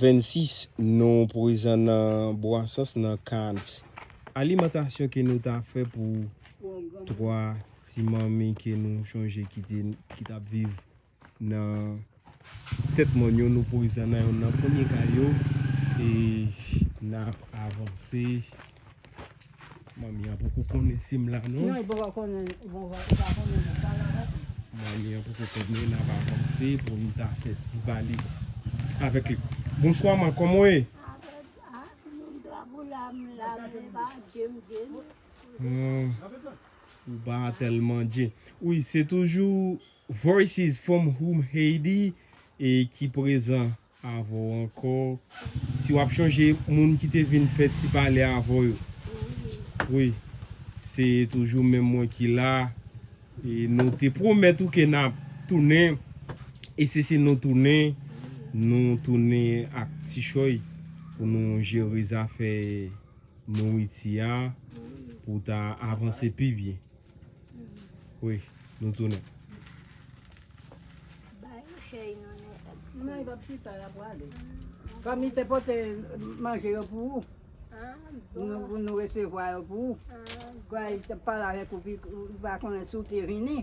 26 nou prezan nan Bwansons nan kad alimantasyon ke nou ta fè pou 3 ti manmi ke nou chonje ki te ki tap viv nan tèt mòn yo nou prezan nan yon nan premye kay yo e nap avanse. Manmi an poko konnen sim la non. Nan li poko konnen bon va pa konnen nou pa la non. Manmi an poko konnen nap avanse pou nou ta fè ti pale avèk li. Bonswa man kòman w ye? Ou pa tèl manje. Wi se toujou voices from home Haiti e ki prezan. avè w ankò si wap chonje moun ki te vin fè ti pale avè w yo wi se toujou menm mwen ki la e nou te pwomèt ou ke nap tounen e se se nou tounen nou tounen ak ti chòy pou nou jere zafè Nouriti a pou ta avanse pi byen. Wi nou tounen. Fanmi te pote manje yo pou ou. Pou nou resevwa yo pou ou. Pou yo te pale avèk ou pou yo konnen si ou te vini.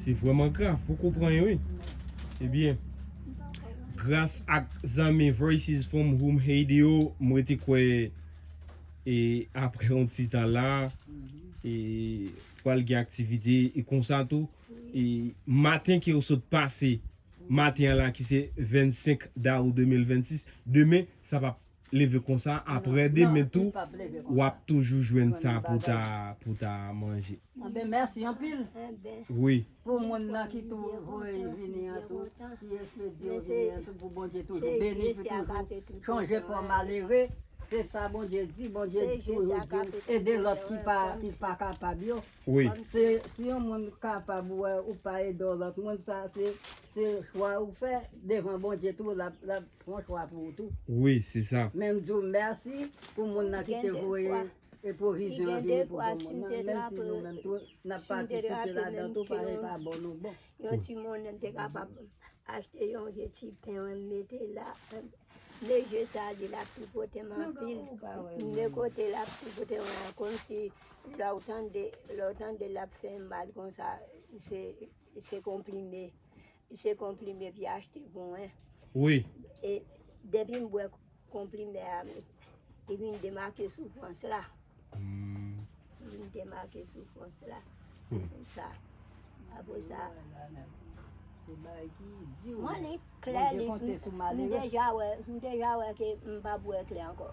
Se vreman grav pou kou pran yo wi. Ebyen, gras ak zanmi Voices from Home Haiti yo, m rete kwè e apre yon ti tan la, e pral gen aktivite e konsa tou. E maten ke yo sot pase, maten an la ki se 25 dawou 2026, demen sa pa. leve konsa aprè demen tou wap toujou jwenn sa pou ta manje. Anben mèsi anpil pou moun nan ki tou voye vini an tou ki espedye yo vini an tou pou Bondye toujou beni pou toujou chanje po malere se sa Bondye di Bondye toujou di ede lòt ki pa kapab yo si yon moun kapab wè ou pa ede yon lòt moun sa se chwa ou fè devan Bondye tou lap Bonswa pou ou tou. Wi se sa. Men m di w mèsi pou moun nan ki te voye pwovizyon an vini pou bon moun nan menm si nou menm tou n ap patisipe ladan tou parèy pa bon nou bon. Yon ti monnen m te kapab achte yon je ti pen m mete la. Men je sa li la tripote m anpil. Men kote l ap tripote m lan kòmsi lè w tande l ap fè mal konsa se konplime. Se konplimen epi achte bon hein. Wi. E depi m bwe konplimen a li vin demake soufrans la. Humm. Li vin demake soufrans la. Wi. Sa. Apo sa. Se bagay ki di ou. Mwen li klè li. M deja wè ke m pa bwe klè anko.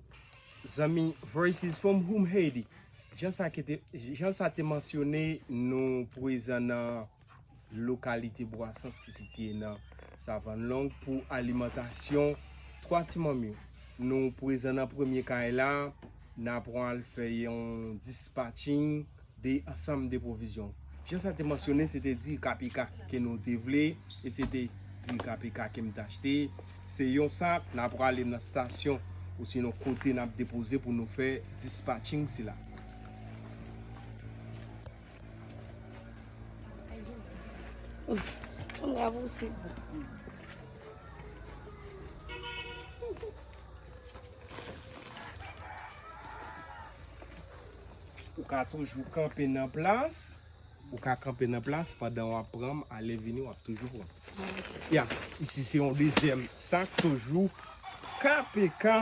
Zanmi Voices from Humm Haiti, jan sa te mansyone, nou prezan nan lokalite Bwasans ki sitiye nan Savann Long pou alimantasyon 3 ti manm yo. Nou prezan nan premye kay la, nan pran al fè yon dispatching 2 ansanm de pwovizyon. Jan sa te mansyone, se te diri KPK ke nou te vle, e se te diri KPK ke m te achte. Se yon sak na prale nan stasyon osinon kote nap depoze pou nou fè dispatching sila. Ou ka toujou kanpe nan plas. Ou ka kanpe nan plas pandan w ap pran, ale vini w ap toujou pran. Ya, isi se yon dezyèm sak toujou KPK.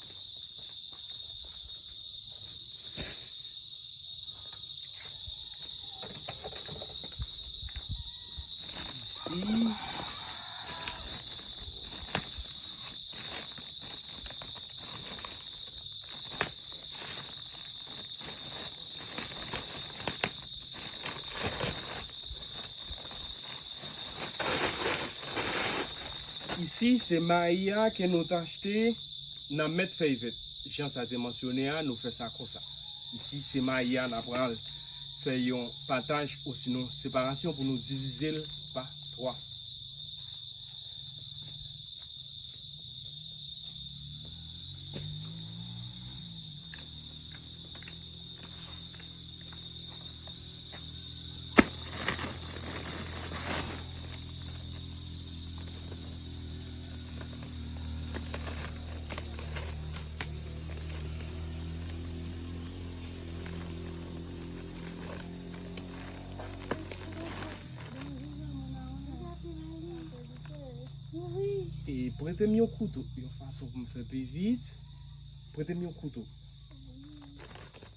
Isi se mayi a ke nou t achte. Nan met fèy vèt jan sa te mansyone a nou fè sa konsa. Isi se mayi a na pral fè yon pataj osinon separasyon pou nou divize l pa 3. E prete m yon kouto. Yon fason pou m fè pi vit. Prete m yon kouto.